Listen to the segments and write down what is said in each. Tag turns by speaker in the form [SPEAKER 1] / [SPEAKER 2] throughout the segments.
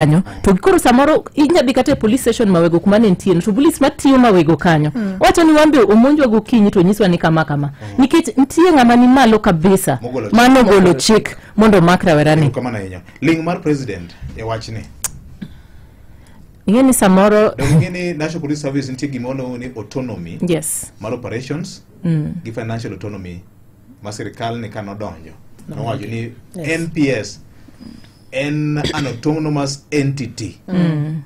[SPEAKER 1] kanyo to koro samoro inya dhi kata e police station mawego kuma ne ntieno to police matiyo mawego kanyo wacho ni wan be omonjwa gokinyi to nyiswa ni kama kama nikech nitie ng'ama ni malo kabisa Mogolo chik. mano golo chik mondo omak rawerani kamano ahinya ling
[SPEAKER 2] mar president e wachni ing'e
[SPEAKER 1] ni samoro donge ing'e ni national police
[SPEAKER 2] service nitie gima waluongo ni autonomy yes mar
[SPEAKER 1] operations
[SPEAKER 2] gi financial autonomy ma sirikal ni ka nodonjo nowacho ni nps en an autonomous entity mm.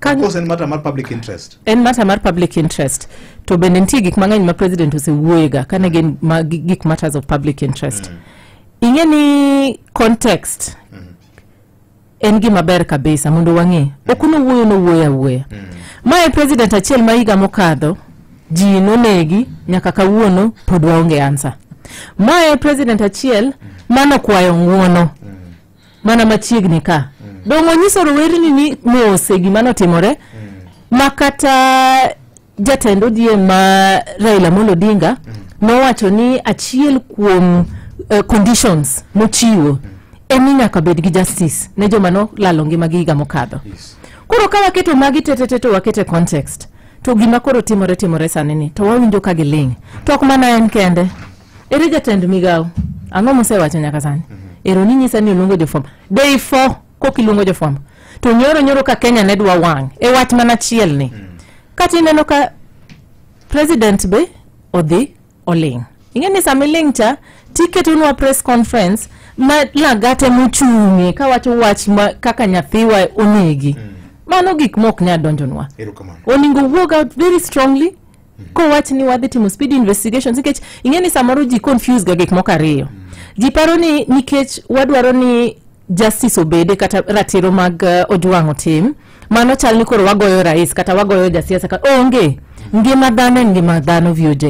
[SPEAKER 2] Of course, en matter mar public interest en matter mar public
[SPEAKER 1] interest to bende nitie gik mang'eny ma president osewuoyega kane gin ma, gik matters of public interest mm. ing'e ni context mm. en gima ber kabisa mondo wang'e ok nowuoyo nowuoyo awuoya mae president achiel ma higa mokadho ji nonegi nyaka kawuono pod waonge ansa mae president achiel manokwayo ng'uono mana machiegni ka dongo nyiso rowerni ni mose gima notimore ma kata jatend ODM ma Raila Amolo Odinga nowacho ni achiel kuom eh, conditions mochiwo en ni nyaka bed gi justice ne joma nolalo ngimagi higa mokadho koro ka waketo magi tetete to wakete context to gima koro timore timore sani ni to wawinjo ka giling to ok mana en kende ere jatend migawo ang'o mosewacho nyaka sani ero ni nyisa ni oluongo jofom day four kok iluongo jofwambo to nyoro nyoro ka kenya ne dwa wang' e wach mana chiel ni kata ineno ka president be odhi oling' ing'e ni sama iling' cha tiketonwa press conference ma lagate mochung'e kawacho wach ma kaka nyathiwa onegi mano gik ma ok nyal donjonwa erokamano oningo wuog out very strongly kowach ni wadhi timo speed investigations nikech ing'e ni samoro ji confuse ga gik moko ariyo ji paro ni nikech wadwaro ni justice obede kata ratiro mag uh, ojwang' otim mano chal ni koro wagoyo rais kata wagoyo jasiasa ka onge ngima dhano en ngima dhano voj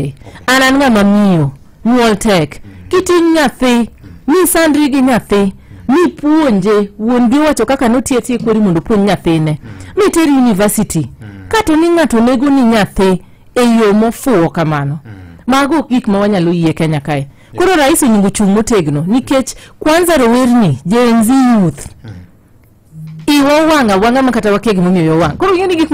[SPEAKER 1] an an ng'ama miyo nyuol tek kiting' nyathi misandri gi nyathi mipuonje wuon gi wacho kaka notiye tiye kweri mondo opuonj nyathine miteri university kato ni ng'ato nego ni nyathi e yo mofuwo kamano mago ok gik ma wanyalo yie kenya kae koro rais onego chung' motegno nikech kwanza rowerni gen z youth iwa wanga wanga makata wakia gimomiyo yo wang koro ing'e ni gik ma